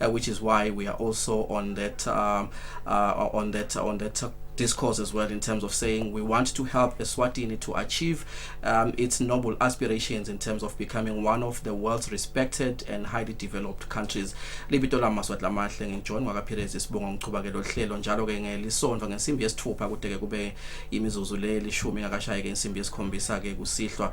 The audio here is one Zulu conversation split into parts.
uh, which is why we are also on that um, uh, on that on that discourse as well in terms of saying we want to help Eswatini to achieve um, its noble aspirations in terms of becoming one of the world's respected and highly developed countries libito la maswati lamahle ngijoin ngakaphirezi sibonga ngichubake lo hlelo njalo ke ngelisonto ngensimbi yesithupha kudeke kube imizuzu lelishumi ngakashaye ke insimbi yesikhombisa ke kusihlwa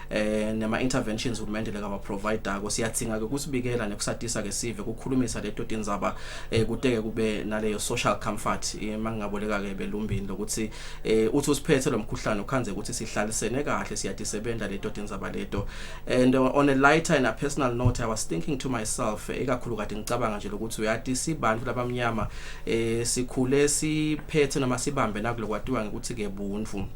eh nema interventions uhulumende leka provider ko siyathinga ke kusibikela nekusatisa ke sive kukhulumisa leto tindzaba eh kuteke kube naleyo social comfort eh, mangingaboleka ke belumbini lokuthi eh uthi usiphethe lomkhuhlane ukhanze ukuthi sihlalisene kahle siyadisebenza leto tindzaba leto and uh, on a lighter and a personal note i was thinking to myself eh, ikakhulu kade ngicabanga nje lokuthi uyati sibantu labamnyama eh sikhule siphethe noma sibambe nakulokwatiwa ngikuthi ke buntu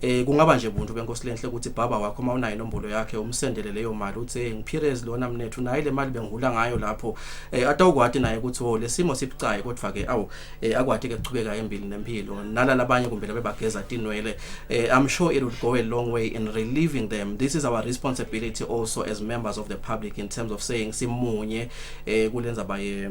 eh kungaba nje buntu benkosi lenhle ukuthi baba wakho uma unayo inombolo yakhe umsendele leyo mali uthi hey ngipirez lona mnethu naye le mali bengihula ngayo lapho eh atawukwati naye ukuthi wo oh, lesimo sibucayi kodwa ke awu eh akwati ke kuchubeka empilo nempilo nala labanye kumbe labe bageza tinwele eh i'm sure it would go a long way in relieving them this is our responsibility also as members of the public in terms of saying simunye eh kulenza baye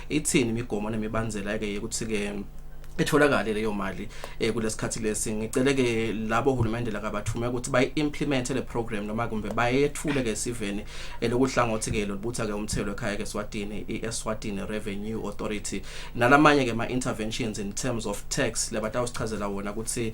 ithini imigomo nemibandzela ke yokuthi ke etholakale leyo mali eh kulesikhathi lesi ngicele ke labo hulumende lakabathume ukuthi bayi implement le program noma kumbe bayethule ke siveni elokuhlangothi ke lobutha ke umthelo ekhaya ke Swatini iSwatini Revenue Authority nalamanye ke ma interventions in terms of tax lebatawusichazela wona ukuthi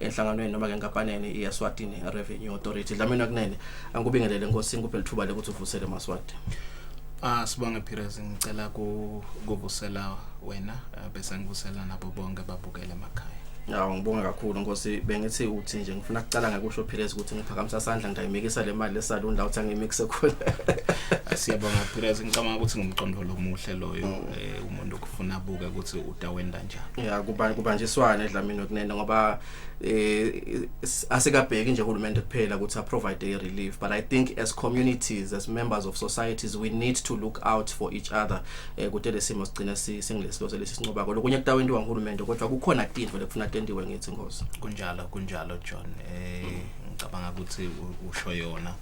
enhlanganweni noma ke nkampanini iyaSwatini Revenue Authority Dlamini kunene angikubingelele nkosi ngikuphe lithuba lokuthi uvusele maswati Ah sibonge Pires ngicela kuvusela wena eh, bese ngivusela nabo bonke babukele emakhaya Ya ngibonga kakhulu Nkosi bengithi uthi nje ngifuna kucala ngakusho Pires ukuthi ngiphakamisa isandla ngidayimikisa le mali lesalon la uthi angimixe khona Siyabonga Pires ngicabanga ukuthi ngumcondo lomuhle loyo mm. eh, umuntu okufuna buke ukuthi utawenda ya kuba kubanjiswana edlamini kunene ngoba eh asikabheki nje uhulumende kuphela ukuthi a provide a relief but i think as communities as members of societies we need to look out for each other eh kude lesimo sigcina singilesiloze lesincoba kodwa kunye kutawenti wangihulumende kodwa kukhona tinto lekufuna tentiwe ngithi ngozi kunjalo kunjalo John eh mm. ngicabanga ukuthi usho yona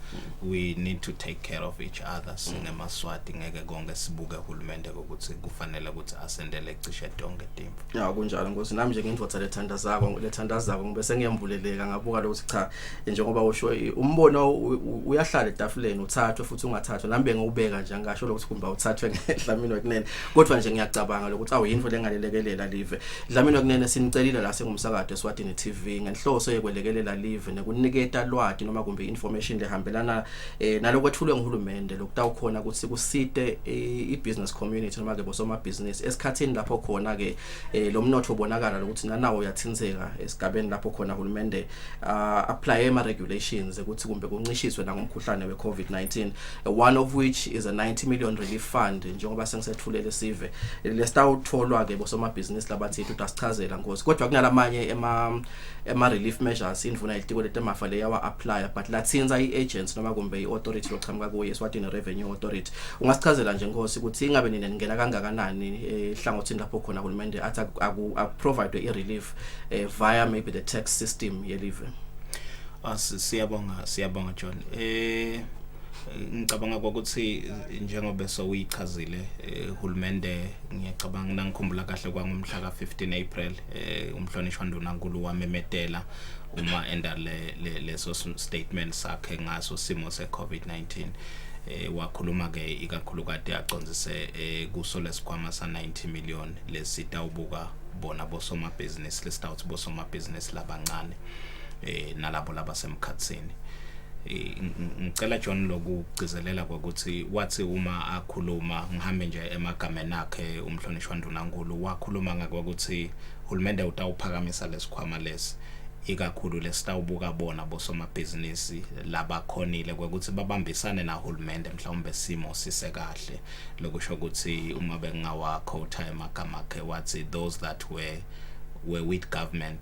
we need to take care of each other sinemaswati ngeke konke sibuke uhulumende ukuthi kufanele ukuthi asendele cishe tonke timfu ya kunjalo nkosi nami nje ngindvodza lethandazako lethandazako ngibe sengiyambuleleka ngabuka lokuthi cha njengoba usho umbono uyahlala etafuleni uthathwe futhi ungathathwe nami bengiwubeka nje angasho lokuthi kumba uthathwe ngedlamini wekunene kodwa nje ngiyacabanga lokuthi awuyinto lengalelekelela live dlamini wekunene sinicelile la singumsakade eSwatini TV ngenhloso yekwelekelela live nekuniketa lwati noma kumbe information lehambelana eh naloko ethulwe nguhulumende lokutawukhona ukuthi kusite eh, i-business community noma ke bosomabhizinisi esikhathini lapho khona ke eh, lo mnotho ubonakala lokuthi nanawo uyathintheka esigabeni lapho khona hulumende ah, apply ama regulations ukuthi kumbe kuncishiswe nangomkhuhlane we-COVID-19 one of which is a 90 million relief fund njengoba sengisethulele sive lesitawutholwa ke bosomabhizinisi labathi uthi asichazela ngozi kodwa kunalamanye ema ema relief measures indvuna yelitiko letemafa leyawa apply but latsintsa i agency noma kumbe i authority lochamuka kuye Swatini Revenue Authority ungasichazela nje nkosi ukuthi ingabe nina ningena kangakanani eh, ehlangothini lapho khona uhulumende athi akuprovidwe i relief eh, via maybe the tax system yelive ah, siyabonga siyabonga John eh ngicabanga ukuthi njengoba soyichazile eh, uhulumende ngiyacabanga nangikhumbula kahle kwangomhla ka 15 April eh umhlonishwa ndunankulu wamemetela uma enda le leso statement sakhe ngaso simo se COVID-19 eh wakhuluma ke ikakhulu kade aconzise eh, kuso lesikhwama sa 90 million lesitawubuka bona bosomabhizinisi lesitawuthi bosomabhizinisi labancane eh nalabo laba semkhatsini eh, ngicela John lokugcizelela ukuthi wathi uma akhuluma ngihambe nje emagameni akhe umhlonishwa ndunankulu wakhuluma ngakho ukuthi uhulumende utawuphakamisa lesikhwama lesi ikakhulu lesitawubuka bona bosomabhizinisi labakhonile kwekuthi babambisane nahulumende mhlawumbe simo sisekahle lokusho ukuthi uma bengawakhotha emagama akhe wathi those that were were with government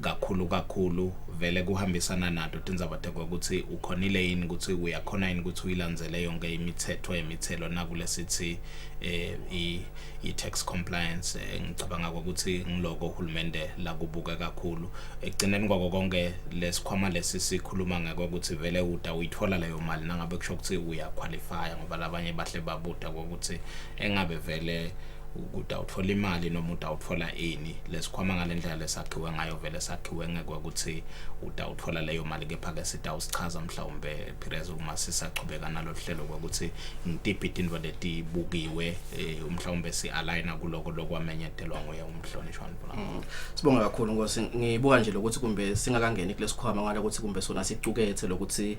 kakhulu kakhulu vele kuhambisana nato tindzaba tekwekutsi ukhonile yini ukuthi uyakhona yini ukuthi uyilandzele yonke imithetho yemithelo nakulesithi eh i-tax compliance eh, ngicabanga ukuthi ngiloko uhulumende lakubuke kakhulu ekugcineni kwako konke lesikhwama lesi sikhuluma ngakho ukuthi vele uta uyithola leyo mali nangabe kusho ukuthi uyaqualifya ngoba labanye bahle babuda ukuthi engabe vele ukuthi awuthola imali noma uthi awuthola ini lesikhwama ngale ndlela lesakhiwe ngayo vele sakhiwe ngeke ukuthi uthi awuthola leyo mali kepha-ke sithi awusichaza mhlawumbe pires uma sisaqhubeka nalolu hlelo kokuthi ngitiphi itinto letibukiwe um mhlawumbe si-alayina kuloko lokwamenyetelwa nguye umhlonishwa nibula mm. sibonga kakhulu ngosi ngibuka nje lokuthi kumbe singakangeni kulesikhwama ngale ukuthi kumbe sona siqukethe lokuthi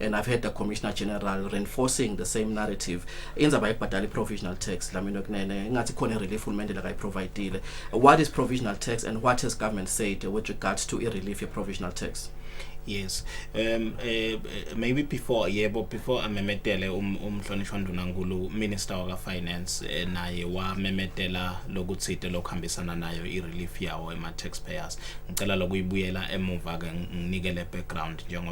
and i've heard the commissioner general reinforcing the same narrative indzaba yokubhadala i-provisional tax lamino kunene ingathi khona i-relief hulumende lakayiprovidile what is provisional tax and what has government said with regards to i-relief ye-provisional tax yes um uh, maybe before yebo before amemetele um, umhlonishwa ndunankulu minister waka finance eh, naye wamemetela lokuthide lokuhambisana nayo i relief yawo ema taxpayers ngicela lokuyibuyela emuva ke nginike le background njengo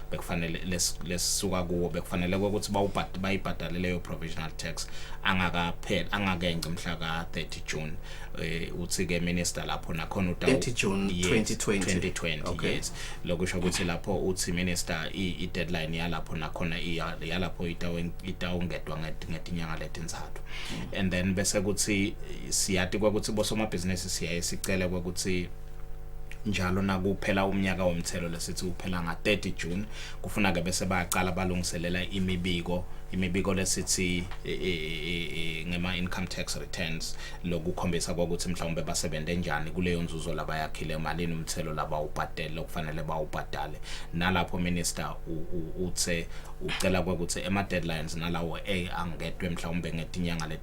bekufanele lesisuka kuwo bekufanele ukuthi bawubhadi bayibhadale leyo provisional tax angakapheli angakenze umhla ka 30 June eh, uthi ke minister lapho nakhona uta 30 June 2020 2020 okay. yes lokusho ukuthi lapho uthi minister i deadline yalapho nakhona yalapho itawungedwa ngetinyanga letinzathu mm. and then bese kuthi siyati kwakuthi bosomabhizinisi siyaye sicele kwakuthi njalo nakuphela umnyaka womthelo lesithi uphela nga-30 June kufuna ke bese bayaqala balungiselela imibiko imibiko lesithi e, e, e, ngema income tax returns lokukhombisa ukuthi mhlawumbe basebenze njani kuleyo nzuzo labayakhile malini umthelo laba ubhadele okufanele bawubhadale nalapho minister uthe ucela ukuthi ema deadlines nalawo a angedwe mhlawumbe ngetinyanga leti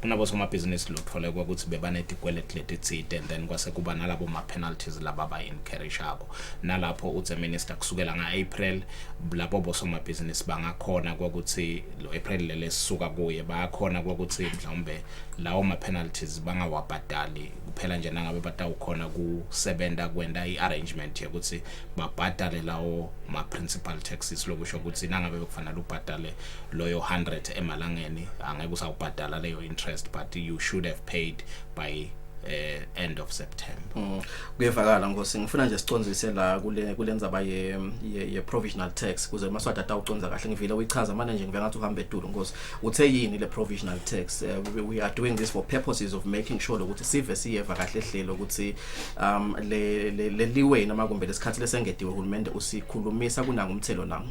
kunabosomabhizinisi lothole ukuthi bebanetikweleti letitsite and then kwase kuba nalabo ma-penalties laba abayi-encouragako nalapho uthe minister kusukela nga-april labo bosomabhizinisi bangakhona kokuthi lo-april leli esisuka kuye bayakhona kokuthi mhlawumbe lawo ma-penalties bangawabhadali kuphela nje nangabe batawukhona kusebenza kwenta i-arrangement yokuthi babhadale lawo ma-principal taxes lokusho ukuthi nangabe bekufanele ubhadale loyo 100 emalangeni angeke usawubhadala leyo interest but you should have paid by eh end of September mm. kuyevakala mm. ngosi ngifuna nje siconzise la kule kulenza baye ye, ye provisional tax kuze maswada atawuconza kahle ngivile uyichaza manje nje ngivengathi uhamba etulo ngosi uthe yini le provisional tax uh, we, we are doing this for purposes of making sure ukuthi sive siyeva kahle hlelo ukuthi um le le, le liwe namakumbe lesikhathi lesengediwe uhulumende usikhulumisa kunangumthelo nangu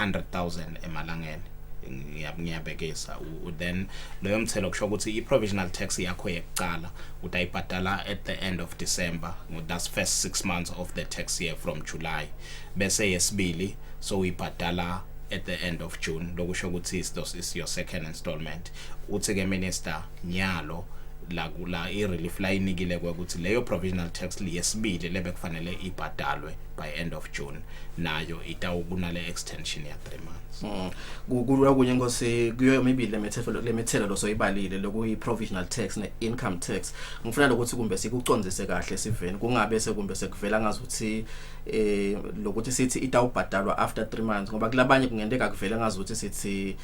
100,000 emalangeni ngiyabekisa then loyo mthelo kusho ukuthi i-provisional tax yakho yekuqala utayibhadala at the end of December that's first 6 months of the tax year from July bese yesibili so uyibhadala at the end of June lokusho ukuthi is your second installment uthi ke minister nyalo la kula i-relief layinikile kwekuthi leyo provisional tax liyesibili lebe kufanele ibhadalwe by end of June nayo itawukunale extension ya 3 months mm. kukulwa kunye ngose kuyo mibili lemethelo lemethelo losoyibalile lokuyi provisional tax ne income tax ngifuna lokuthi kumbe sikucondzise kahle siveni kungabe sekumbe sekuvela ngazuthi eh lokuthi sithi itawubhadalwa after 3 months ngoba kulabanye kungenteka kuvela ngazuthi sithi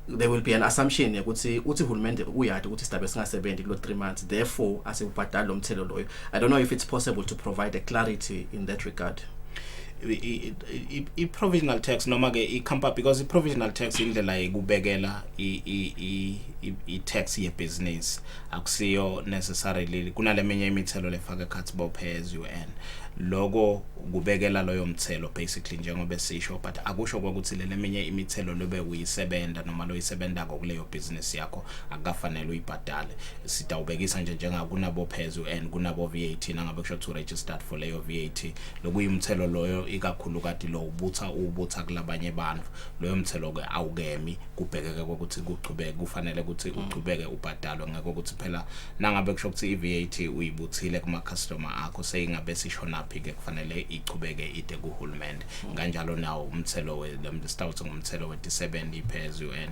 there will be an assumption ukuthi uthi uhulumende uyadi ukuthi sidabe singasebenzi kulo 3 months therefore asibhadali lomthelo loyo I don't know if it's possible to provide a clarity in that regard. i-provisional tax noma ke i-company because i-provisional tax indlela yekubekela i-tax yebhizinisi akusiyo necessarily kunaleminye imithelo lefaka ekhathi bophe as you earn loko kubekela loyo mthelo basically njengoba sisho but akusho ukuthi leminye imithelo lobe uyisebenza noma loyisebenza kokuleyo business yakho akukafanele uyibhadale sidawubekisa nje njengakunabophezulu and kunabo VAT nangabe kusho to registered for leyo VAT lokuyimthelo loyo ikakhulu kati lo ubutha ubutha kulabanye abantu loyo mthelo ke awukemi kubhekeke ukuthi kuchubeke kufanele ukuthi mm. uchubeke ubhadalwe ngeke ukuthi phela nangabe kusho ukuthi iVAT uyibuthile kuma customer akho seyingabe sishonaphi ke kufanele ichubeke ide kuhulumende mm. kanjalo nawo umthelo we sitawuthi ngumthelo we 70 phezulu and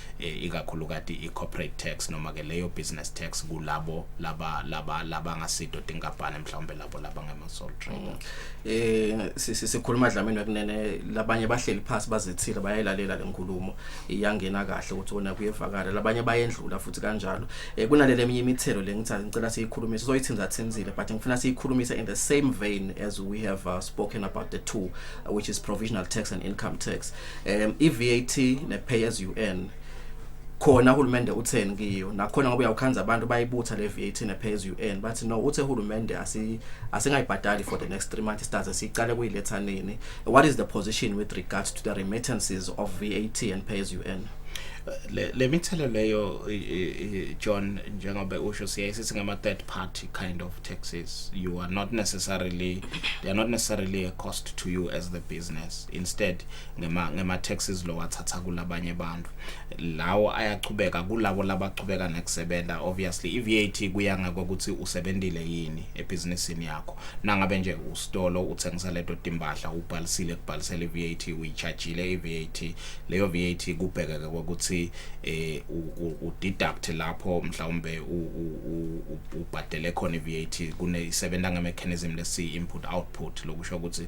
eh, ikakhulukati i-corporate tax noma ke leyo business tax kulabo laba laba laba ngasido tinkampani mhlawumbe labo laba ngema-sole trader eh si- si- sikhuluma dlamini wekunene labanye bahleli phansi bazethile bayayilalela le nkulumo iyangena kahle ukuthi wona kuyevakala labanye bayendlula futhi kanjalo eh kunalele eminye imithelo le ngithatha ngicela siyikhulumise soyithinza thinzile but ngifuna siyikhulumise in the same vein as we have uh, spoken about the two uh, which is provisional tax and income tax um i-VAT ne-pay as you earn khona uhulumende utheni kiyo nakhona ngoba uyawukhanza abantu bayibutha le VAT ne pay as you earn bathi no uthe uhulumende asi asingayibhadali for the next 3 months stars siqale kuyiletha nini what is the position with regards to the remittances of VAT and pay as you earn le le mithelo leyo John njengoba usho siyaye sithi ngama third party kind of taxes you are not necessarily they are not necessarily a cost to you as the business instead ngema ngema taxes lowathatha kulabanye abantu lawo ayachubeka kulabo labachubeka nekusebenza obviously iVAT kuya ngokuthi usebenzile yini ebusinessini yakho nangabe nje usitolo uthengisa leto timbahla ubhalisile kubhalisela iVAT uyichargeile iVAT leyo VAT kubhekeke ukuthi eh u deduct lapho mhlawumbe ubhadele khona iVAT kune isebenza ngemechanism lesi input output lokusho ukuthi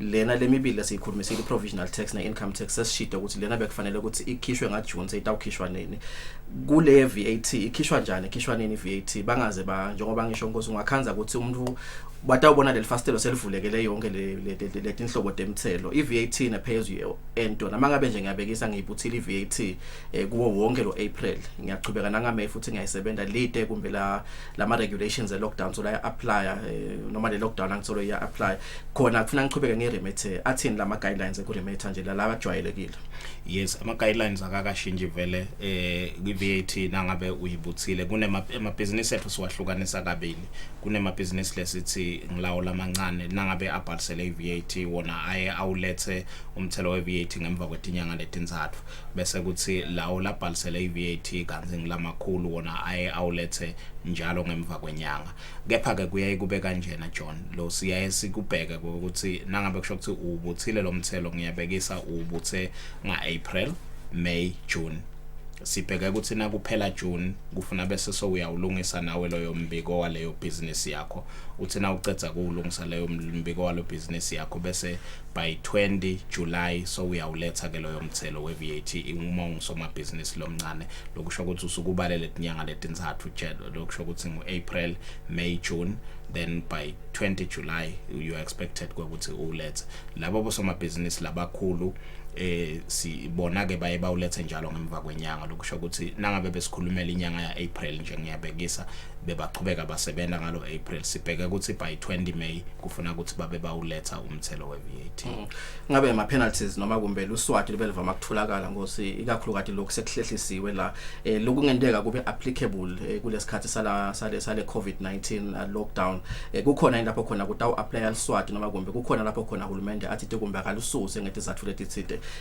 lena lemibili siyikhulumisile provisional tax ne income tax sesishida ukuthi lena bekufanele ukuthi ikhishwe nga June seyitawukhishwa nini kule VAT ikhishwa njani ikhishwa nini VAT bangaze ba njengoba ngisho nkosi ungakhanza ukuthi umuntu batawubona leli fastelo selivulekele yonke le tinhlobo temthelo iVAT ne pay as you earn tona mangabe nje ngiyabekisa ngiyibuthile iVAT eh, kuwo wonke lo April ngiyaqhubeka nanga May futhi ngiyayisebenza lite kumbe la lama regulations e lockdown so la apply eh, noma le lockdown angithole iya apply khona kufuna ngiqhubeke ngeremethe athini lama guidelines ekuremetha nje laba ajwayelekile yes ama guidelines akakashinji vele eh kwi VAT nangabe uyibuthile kunema amabhizinisi ethu siwahlukanisa kabili kunema business lesithi ngilawo lamancane nangabe abhalisele i VAT wona aye awulethe umthelo we VAT ngemva kwetinyanga letinzathu bese kuthi lawo labhalisele i VAT kanzi ngilamakhulu wona aye awulethe njalo ngemva kwenyanga kepha ke kuyaye kube kanjena John lo siyaye sikubheke ukuthi nangabe kusho ukuthi ubuthile lo mthelo ngiyabekisa ubuthe nga April May June sibheke ukuthi na kuphela June kufuna bese so uyawulungisa nawe loyo mbiko waleyo business yakho uthi na ucedza kuwulungisa leyo mbiko walo business yakho bese by 20 July so uyawuletha ke loyo mthelo we VAT uma ungusomabhizinisi lomncane lokusho ukuthi usukubalele inyanga letintathu lokusho ukuthi ngu April May June then by 20 July you are expected ukuthi ulethe labo bosomabhizinisi labakhulu eh sibona ke baye bawulethe njalo ngemva kwenyanga lokusho ukuthi nangabe besikhulumela inyanga ya April nje ngiyabekisa bebaqhubeka basebenza ngalo April sibheke ukuthi by 20 May kufuna ukuthi babe bawuletha um umthelo we-VAT mm. ngabe ama penalties noma kumbe luswati libe livama ukutholakala ngosi ikakhulukati lokhu sekuhlehlisiwe la eh, lokungenteka kube applicable eh, kulesikhathi sala sale sale COVID-19 uh, lockdown eh, kukhona lapho khona kutawu apply luswati noma kumbe kukhona lapho khona uhulumende athi kumbe akalususe ngethi zathu letithide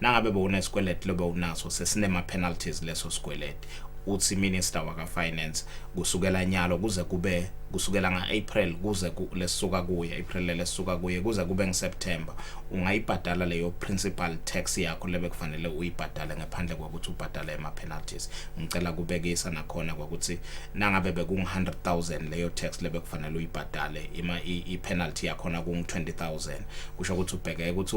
nangabe bewunesikweleti lobe unaso sesinema-penalties leso sikweleti uthi minister waka-finance kusukela nyalo kuze kube kusukela nga-april kuze lesuka kuye april lesuka kuye kuze kube ngiseptember ungayibhadala leyo principal tax yakho lebe kufanele uyibhadale ngephandle kokuthi ubhadale ama-penalties ngicela kubekisa nakhona kokuthi nangabe bekungu-100 000 leyo tax lebe kufanele uyibhadale i-penalty yakhona kungu-20 000 kusho ukuthi ubheke ukuthi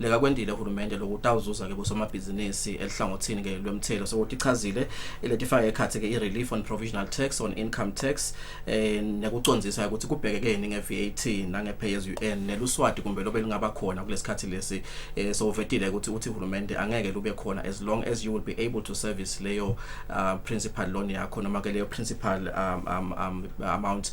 likakwendile uhulumende lokutawuzuza ke bosomabhizinisi elihlangothini ke lwemthelo sokuthi ichazile iletifake ekhathi ke i-relief on provisional tax on income tax eh nekucondzisa ukuthi kubhekekeni nge-VAT nange-pay as you earn neluswati kumbe lobe lingaba khona kulesikhathi lesi eh sovetile ukuthi uthi uhulumende angeke lube khona as long as you will be able to service leyo uh, principal loan yakho noma ke leyo principal um, um, um, amount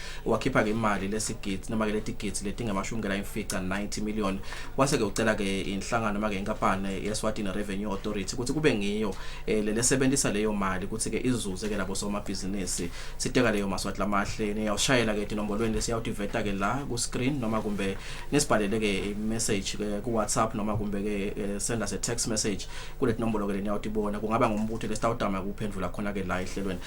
wakhipha ke imali lesigidi noma ke letigidi letingamashumi kela imfica 90 million wase ke ucela ke inhlangano noma ke inkampani yeSwatini Revenue Authority ukuthi kube ngiyo eh, lelesebenzisa leyo mali ukuthi ke izuze ke labo somabhizinisi siteka leyo maswati lamahle niyawushayela ke inombolweni lesiyawutiveta ke la ku screen noma kumbe nisibhalele ke message ke ku WhatsApp noma kumbe ke eh, send us a text message kule nombolo ke leniyawutibona kungaba ngumbutho lesitawudama kuphendvula khona ke la ehlelweni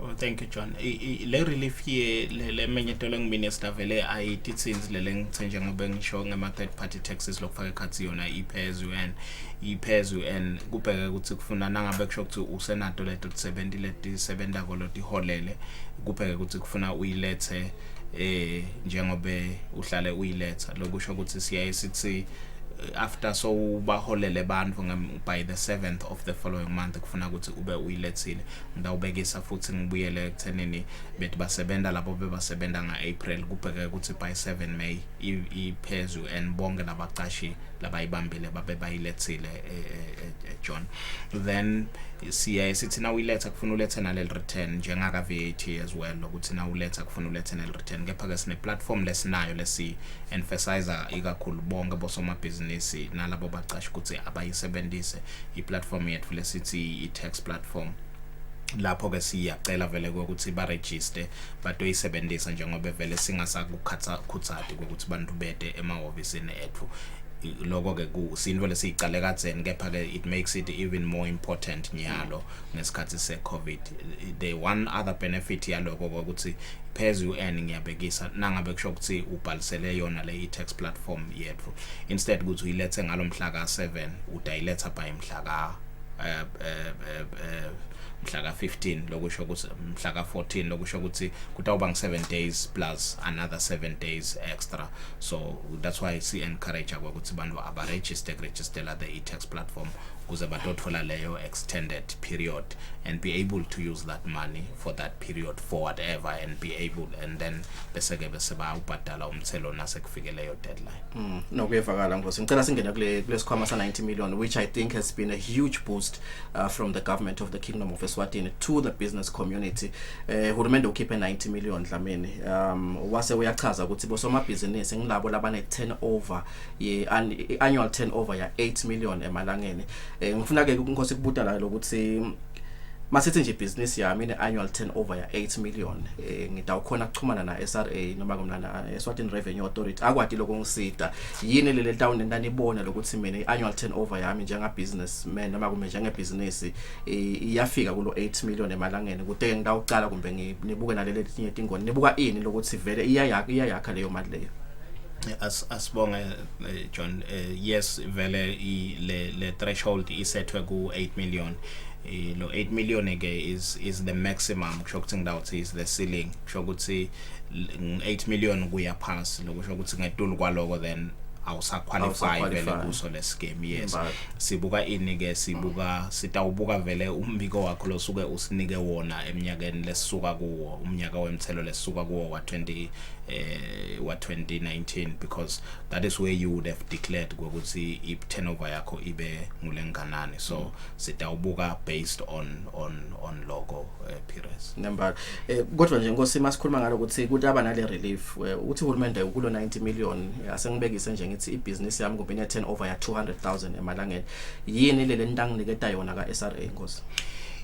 Oh, thank you John. I, I, le relief ye le, le menyetelo ngimine sidavele ayitithinzi lele ngithe njengoba ngisho ngema third party taxes lokufaka ekhathi yona iphezulu and iphezulu and kubheke ukuthi kufuna nangabe kusho ukuthi usenato leto tisebenzi leti sebenza kolo tiholele kubheke ukuthi kufuna uyilethe eh njengobe uhlale uyiletha lokusho ukuthi siyaye sithi eh, after so baholele abantu by the 7th of the following month kufuna ukuthi ube uyilethile ngidawubekisa futhi ngibuyele ekuthenini bethi basebenza labo bebasebenza nga-april kubheke ukuthi by 7 may iphezulu and bonke labacashi labayibambile babe bayilethile e, e, e, ejohn then siyaye sithi na uyiletha kufuna ulethe naleli return njengaka VAT as well lokuthi na uletha kufuna ulethe naleli return kepha ke sine platform lesinayo lesi emphasizer ikakhulu bonke bosomabhizinisi nalabo baqashi ukuthi abayisebenzise i-platform yethu lesithi i-tax platform lapho ke siyacela vele ukuthi ba register batoyisebenzisa njengoba vele singasakukhatha khuthadi ukuthi bantu bede emahhovisi ethu lokho ke kusinto lesiyicale kadzeni kepha ke it makes it even more important nyalo ngesikhathi se covid the one other benefit yaloko ukuthi pheze u-n ngiyabekisa nangabe kusho ukuthi ubhalisele yona le i-tax platform yethu instead ukuthi uyilethe ngalo mhla ka-7 udayiletha by mhla ka eh, eh, eh, mhla ka 15 lokusho ukuthi mhla ka 14 lokusho ukuthi kutawuba ngi 7 days plus another 7 days extra so that's why si encourage ukuthi abantu aba register register la the e-tax platform kuze batothola leyo extended period and be able to use that money for that period for whatever and be able and then bese ke bese bayawubhadala umthelo nase fike leyo deadline mm nokuyevakala ngosi ngicela singene kule kulesikhwama sa 90 million which i think has been a huge boost uh, from the government of the kingdom of Eswatini to the business community eh uh, hurumende ukhiphe 90 million dlamini um wase uyachaza ukuthi bosomabhizinisi ngilabo labane turnover ye annual turnover ya 8 million emalangeni eh ngifuna ke inkosi kubuta la lokuthi masithi nje business yami ine annual turnover ya 8 million eh ngidawukhona kuxhumana na SRA noma kumlana eh, Eswatini Revenue Authority akwati lokungisida yini lele town endanibona lokuthi mina i annual turnover yami njenga businessman noma kumbe njenge business eh, iyafika kulo 8 million emalangeni kude ngidawucala kumbe ngibuke nalele tinye tingoni nibuka ini lokuthi vele iyayakha iyayakha leyo mali leyo as asibonge eh, John eh, yes vele i le, le threshold isethwe ku 8 million eh, lo 8 million ke is is the maximum kusho ukuthi ngidawuthi is the ceiling kusho ukuthi 8 million kuya phansi lokusho ukuthi ngetulu kwaloko then awusaqualify vele kuso lescam yes sibuka ini ke sibuka sitawubuka vele umbiko wakho losuke usinike wona eminyakeni lesisuka kuwo umnyaka wemthelo lesisuka kuwo wa 20 uh, wa 2019 because that is where you would have declared ukuthi i turnover yakho ibe ngulenganani so mm. sitawubuka based on on on logo uh, eh, periods number eh, kodwa nje nkosi masikhuluma ngalo ukuthi kutaba nale relief eh, uthi uhulumende ukulo 90 million asengibekise nje ngithi i business yami kumbe ne turnover ya 200000 emalangeni yini le lentanginiketa yona ka SRA nkosi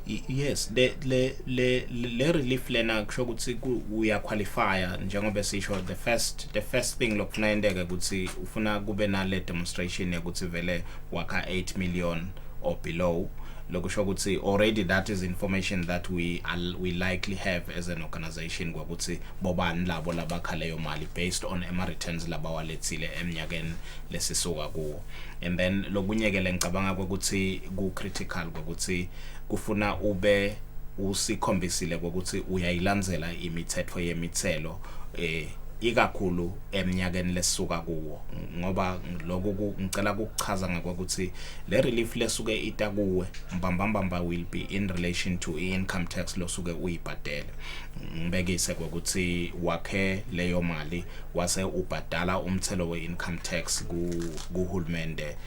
Yes le le le le relief lena kusho ukuthi uya qualifya njengoba sisho the first the first thing lokufuna yenteke ukuthi ufuna kube nale demonstration ukuthi vele wakha 8 million or below lokusho ukuthi already that is information that we we likely have as an organization ngokuthi bobani labo labakha leyo mali based on ama returns labawalethile eminyakeni lesisuka kuwo and then lokunye ke lengicabanga ukuthi ku critical ukuthi kufuna ube usikhombisile ukuthi uyayilandzela imithetho yemithelo eh ikakhulu eminyakeni lesuka kuwo ngoba lokho ngicela ukuchaza ngokuthi le relief lesuke ita kuwe mbambambamba will be in relation to income tax losuke uyibhadele ngibekise ukuthi wakhe leyo mali wase ubhadala umthelo weincome tax kuhulumende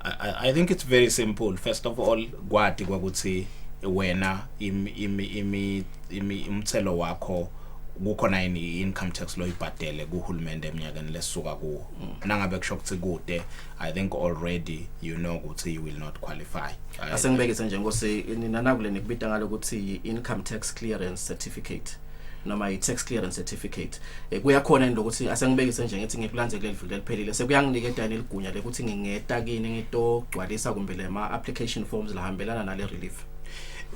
I, I think it's very simple first of all kwati kwakuthi wena imi imi imi imi umthelo wakho kukhona yini income tax loyibhadele kuhulumende eminyakeni lesuka kuwo mm. nangabe kusho ukuthi kude i think already you know ukuthi you will not qualify asengibekise nje ngose nina nakule nikubita ngalo ukuthi income tax clearance certificate noma i-tax clearance certificate eh, kuyakhona into ukuthi asengibekise nje ngithi ngikulandze kuleli viki eliphelile sekuyanginika edani eligunya lekuthi ngingeta kini ngitogcwalisa kumbe le ma application forms lahambelana nale relief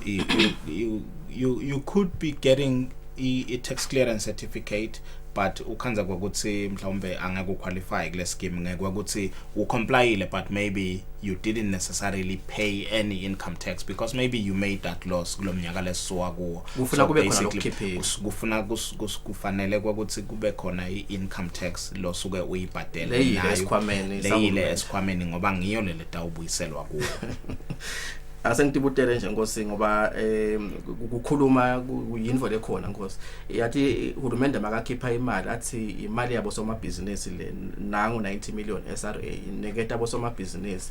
you, you, you, you could be getting i-tax clearance certificate but ukhanza kwakuthi mhlawumbe angeke uqualify kule scheme ngeke kwakuthi ucomplyile but maybe you didn't necessarily pay any income tax because maybe you made that loss kulomnyaka lesowa kuwo kufuna kube khona lokukhiphela kufuna kufanele kwakuthi kube khona i-income tax lo suke uyibhadele leyile esikhwameni leyile esikhwameni ngoba ngiyo le letawubuyiselwa kuwo asengitibutele nje nkosi ngoba eh kukhuluma kuyinvo lekhona nkosi yathi uhulumende makakhipha imali athi imali yabo somabhizinisi le nangu 90 million SRA ineketa bosomabhizinisi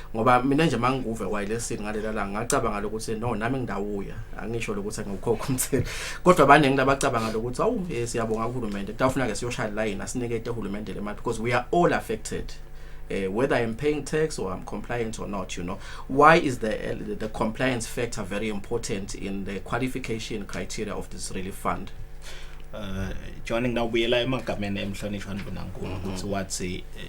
ngoba mina nje manguve wayilesini ngalela la ngacabanga lokuthi no nami ngidawuya angisho lokuthi ngikukhokha umthelo kodwa abaningi labacabanga lokuthi awu eh, siyabonga kuhulumende kutafuna ke siyoshaya line asinikete uhulumende le mali because we are all affected uh, whether I'm paying tax or I'm compliant or not, you know. Why is the, uh, the compliance factor very important in the qualification criteria of this relief fund? Uh, John ngawubuyela emagameni emhlonishwa ndunankulu mhm. ukuthi wathi eh,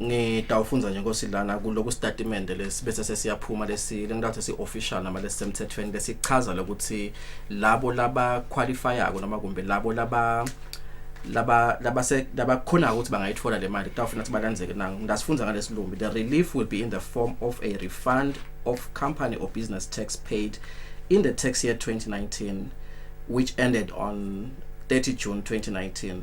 ngitawufundza nje nkosi lana kuloku sitatimende lesi bese sesiyaphuma lesi lengitawuthe si-official noma lesisemthethweni lesichaza lokuthi labo labakhwalifayako noma kumbe labo laba laba labase labakhona ukuthi bangayithola le mali kutawufuna ukuthi balandzeke na ngilasifundza ngalesilumbi the relief will be in the form of a refund of company or business tax paid in the tax year 2019 which ended on 30 June 2019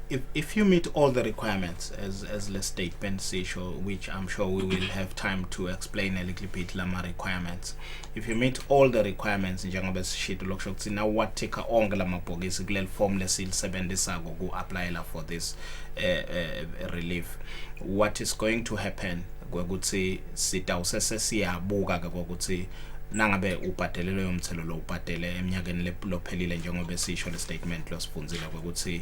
If, if you meet all the requirements as, as the statement sisho which I'm sure we will have time to explain a little bit lama requirements if you meet all the requirements njengoba sishito lokusho ukuthi na wathika onke lamabhokisi kuleli form lesilisebenzisako ku applyela for this uh, uh, relief what is going to happen kwekuthi sitawuse sesiyabuka ke kokuthi nangabe ubhadele loyo mthelo lo ubhadele eminyakeni lophelile njengoba esisho le statement losifundzile ukuthi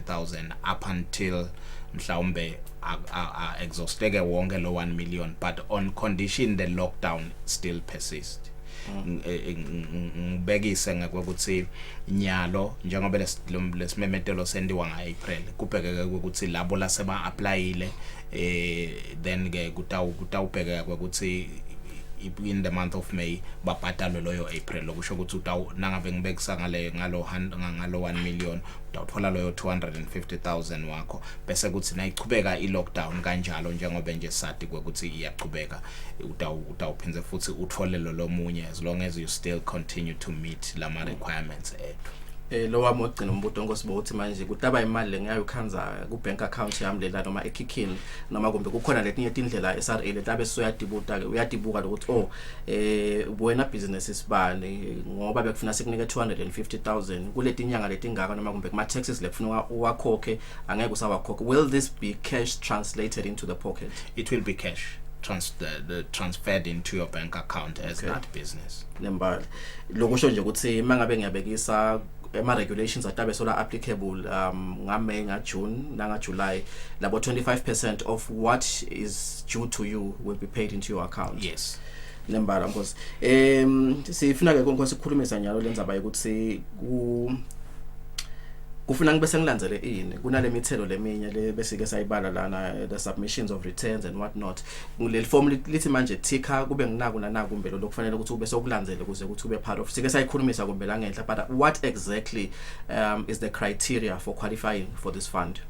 100,000 up until mhlawumbe exhausteke wonke lo 1 million but on condition the lockdown still persist ngibekise ngekweukuthi nyalo njengoba lesimemetelo sendiwa nga-april kubhekeke ukuthi labo lase ba-aplayile eh then ke kutawubhekeka kwekuthi in the month of May babhadalwe loyo April lokusho ukuthi nangabe ngibekisa ngale ngalo ngalo 1 million uthola loyo 250000 wakho bese kuthi nayichubeka ilockdown kanjalo njengoba nje sadi ukuthi iyachubeka utawuphinde futhi uthole lo lomunye as long as you still continue to meet lama requirements ethu eh lo wami ogcina umbuto ngosibo uthi manje kutaba imali lengayo khanza ku bank account yami lela noma ekhikhini noma kumbe kukhona letinye tindlela eSRA letabe soyadibuta ke uyadibuka lokuthi oh eh wena business isibani ngoba bekufuna sikunike 250000 kuletinyanga letingaka noma kumbe kuma taxes lekufuna uwakhokhe angeke usawakhokhe will this be cash translated into the pocket it will be cash trans the, the transferred into your bank account as okay. that business nembali lokusho nje ukuthi mangabe ngiyabekisa ema regulations atabe sola applicable um nga May nga June nanga July labo 25% of what is due to you will be paid into your account yes lembala nkosi em sifuna ke nkosi ukukhulume sanyalo lenzaba yokuthi ku kufuna ngibe sengilandzele ini kunale mithelo leminye le besike sayibala lana eh, the submissions of returns and what not kuleli form lithi manje thikha kube nginaku nanaku mbelo lokufanele ukuthi ube sokulandzele kuze ukuthi ube part of sike sayikhulumisa kumbe la ngenhla but what exactly um is the criteria for qualifying for this Trust Fund.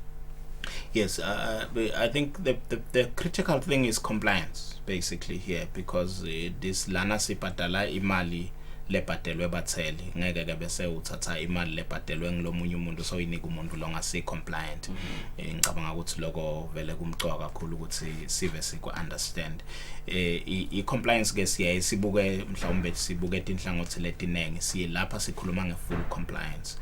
Yes, uh, uh I think the, the, the critical thing is compliance basically here because uh, this lana sibhadala imali lebhadelwe batheli ngeke ke bese uthatha imali lebhadelwe ngilomunye umuntu so inika umuntu lo ngasi compliant mhm. eh, ngicabanga ukuthi lokho vele kumcoka kakhulu ukuthi sive siku understand eh i compliance ke siyaye sibuke mhlawumbe sibuke inhlangothi letiningi silapha sikhuluma nge full compliance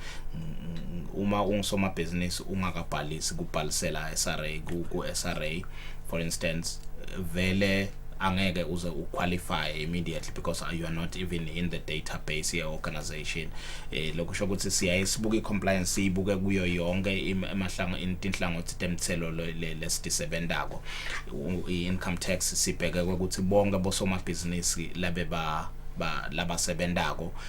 uma ungusomabhizinisi ungakabhalisi kubhalisela SRA ku, ku SRA for instance vele angeke uze uqualify immediately because you are not even in the database ye organization eh lokho sho ukuthi siyaye sibuke icompliance siyibuke kuyo yonke emahlango inhlangothi temthelo lesidisebenzako income tax sibheke ukuthi bonke bosomabhizinisi labe ba labasebenzako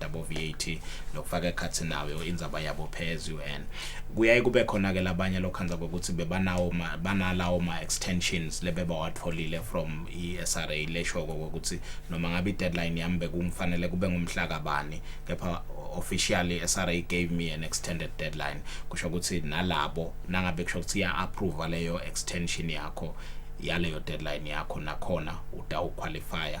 yabo VAT nokufaka ekhathi nayo indzaba yabo phezu UN kuyaye kube khona ke labanye lokhanza kokuthi bebanawo banalawo ma extensions lebebawatholile from iSRA lesho ukuthi noma ngabe deadline yami bekumfanele kube ngumhla kabani kepha officially SRA gave me an extended deadline kusho ukuthi nalabo nangabe kusho ukuthi ya approve leyo extension yakho yaleyo deadline yakho nakhona utawuqualifya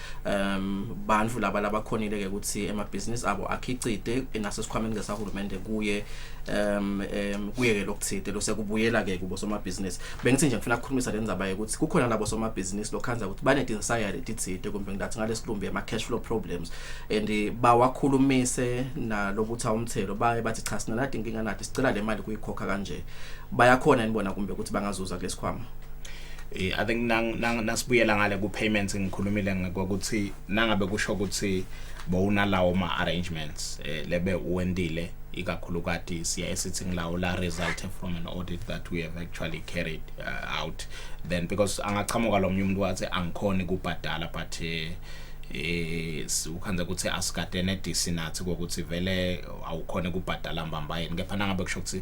um bantu laba labakhonile ke ukuthi emabhizinisi abo akhicite nasesikhwameni ke sahulumende kuye um um kuye ke lokuthide lose kubuyela ke kubo somabhizinisi bengithi nje ngifuna ukukhulumisa le ndzaba yokuthi kukhona labo somabhizinisi lokhanza ukuthi banedinsayari etithide kumbe ngilathi ngalesilumbi ama cash flow problems and bawakhulumise nalobutha umthelo baye bathi cha sina nathi inkinga nathi sicela le mali kuyikhokha kanje bayakhona nibona kumbe ukuthi bangazuza kulesikhwama Eh, i think nang nang nasibuyela ngale ku payments ngikhulumile ngokuthi nangabe kusho ukuthi bowunalawo ma arrangements eh, lebe uwendile ikakhulukati siya esithi ngilawo la result from an audit that we have actually carried uh, out then because angaqhamuka lo mnye umuntu wathi angikhoni kubhadala but eh, eh ukhanze ukuthi asikade nedisi nathi kokuthi vele awukhona kubhadala mbamba yini kepha nangabe kusho ukuthi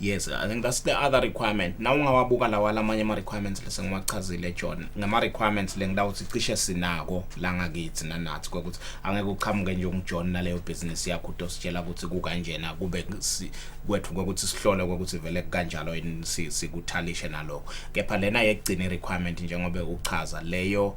yes i think that's the other requirement na ungawabuka lawa lamanye ama requirements lesengiwachazile John ngama requirements lengidawuthi cishe sinako la ngakithi nanathi ukuthi angeke uqhamuke nje ungijohn naleyo business yakho utositshela ukuthi kukanjena kube kwethu ukuthi sihlole ukuthi vele kanjalo yini sikuthalishe naloko kepha lena yekugcina requirement njengoba uchaza leyo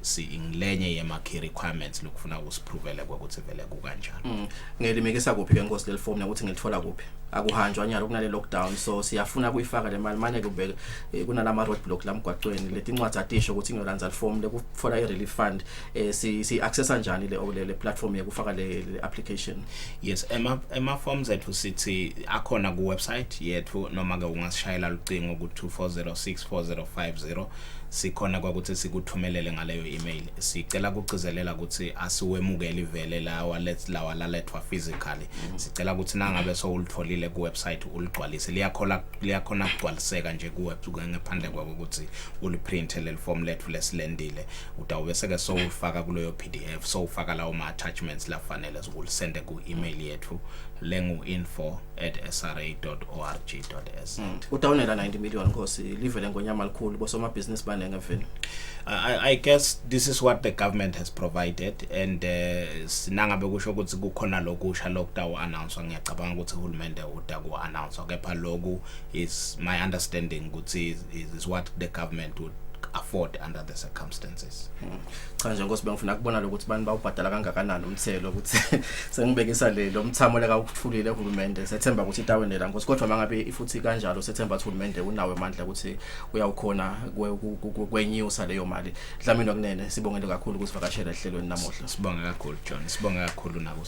singilenye yema key requirements lokufuna ukusiprovele ukuthi vele kukanjani mm. ngelimekisa kuphi ke nkosi leli form ukuthi ngilithola kuphi akuhanjwa nyalo kunale lockdown so siyafuna kuyifaka le mali manje kube eh, kunalama road block lamgwaqweni leti incwadi atisho ukuthi ngiyolandza form lekutfola i relief fund eh, si si access kanjani le le platform yekufaka le application yes ema ema forms ethu sithi akhona ku website yethu noma ke ungasishayela lucingo ku 24064050 sikhona kwakuthi sikuthumelele ngaleyo email sicela kugcizelela ukuthi asiwemukeli vele lawa let lawa lalethwa physically mm. sicela ukuthi nangabe sowulitholile ku website uligcwalise liyakhola liyakhona kugcwaliseka nje ku website ngephandle kwako ukuthi uliprint leli form lethu lesilendile utawube seke sowufaka kuleyo PDF sowufaka lawo ma attachments lafanele zokulisende ku email yethu lengu info at sra.org.z mm. udawunela 90 million nkosi live lengonyama likhulu bosomabhizinisi banenge mfini I, I guess this is what the government has provided and uh, sinangabe kusho ukuthi kukhona lokusha lokudawu announce ngiyacabanga ukuthi uhulumende uda ku announce kepha loku is my understanding ukuthi is, is what the government would afford under the circumstances cha nje nkosi bengifuna kubona lokuthi bani bawubhadala kangakanani umthelo ukuthi sengibekisa le lo mthamo leka ukuthulile uhulumende sethemba ukuthi itawenela nkosi kodwa mangabe ifuthi kanjalo sethemba ukuthi uhulumende unawo amandla ukuthi uyawukhona kwenyusa leyo mali dlamini kunene sibongele kakhulu ukuthi vakashela ehlelweni namuhla sibonge kakhulu John sibonge kakhulu nabo